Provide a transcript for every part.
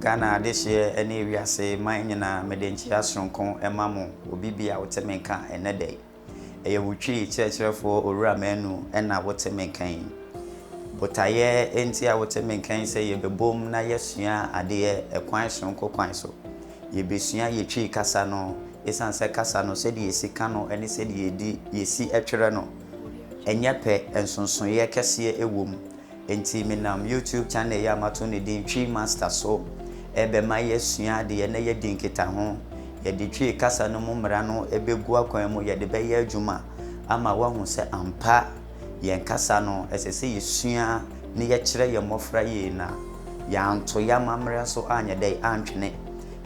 Ghana adehyeɛ ne wiase man nyinaa mede nkyea soronko ma mo obi bia wo te me nka ɛnnɛ da yi. Ɛyɛ wo Twi kyerɛkyerɛfoɔ Owura Manu na wo te me nka yi. Botaeɛ nti a wo te me nka yi sɛ yɛbɛbom na yɛasua adeɛ ɛkwan soronko kwan so. Yɛbɛsua yɛ Twi kasa no, ɛsiane sɛ kasa no sɛdeɛ yɛsi ka no ne sɛdeɛ yɛdi yɛsi twerɛ no. Ɛnyɛ pɛ, nsonsonoeɛ kɛseɛ wom. Enti menam YouTube channel yi a mato no din Twi Master so rebɛma yɛasua adeɛ na yɛadi nkitaho. Yɛde Twi kasa no mu mmara no bɛgu akwan mu, yɛde bɛyɛ adwuma ama woahu sɛ ampa yɛn kasa no, ɛsɛ sɛ yɛsua na yɛkyerɛ yɛn mmɔfra yie na yɛanto yɛn amammerɛ so anyɛ dɛ antwene.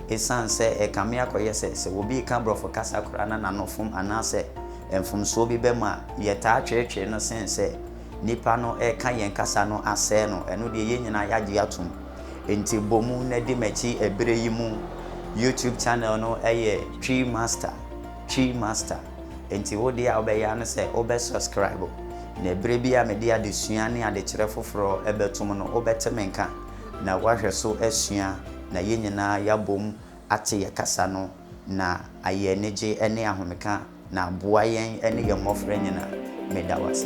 Ɛsiane sɛ ɛrekame akɔyɛ sɛ, sɛ obi reka Borɔfo kasa koraa na n'ano fom anaasɛ mfomsoɔ bi ba mu a, yɛtaa tweretwere no sen sɛ nnipa no reka yɛn kasa no asɛe no. Ɛno deɛ, yɛn nyinaa yɛagye atom. Enti bɔ mu na di m'akyi ɛberɛ yi mu. YouTube channel no yɛ Twi Master, Twi Master. Enti wo deɛ a wobɛyɛ ara ne sɛ wobɛ subscribe, na ɛberɛ biara a mede adesua ne adekyerɛ foforɔ bɛtom no, wobɛte me nka na woahwɛ so asua, na yɛn nyinaa yɛabom ate yɛn kasa no na ayɛ anigye ne ahomeka na aboa yɛn ne yɛn mmɔfra nyinaa. Meda wo ase.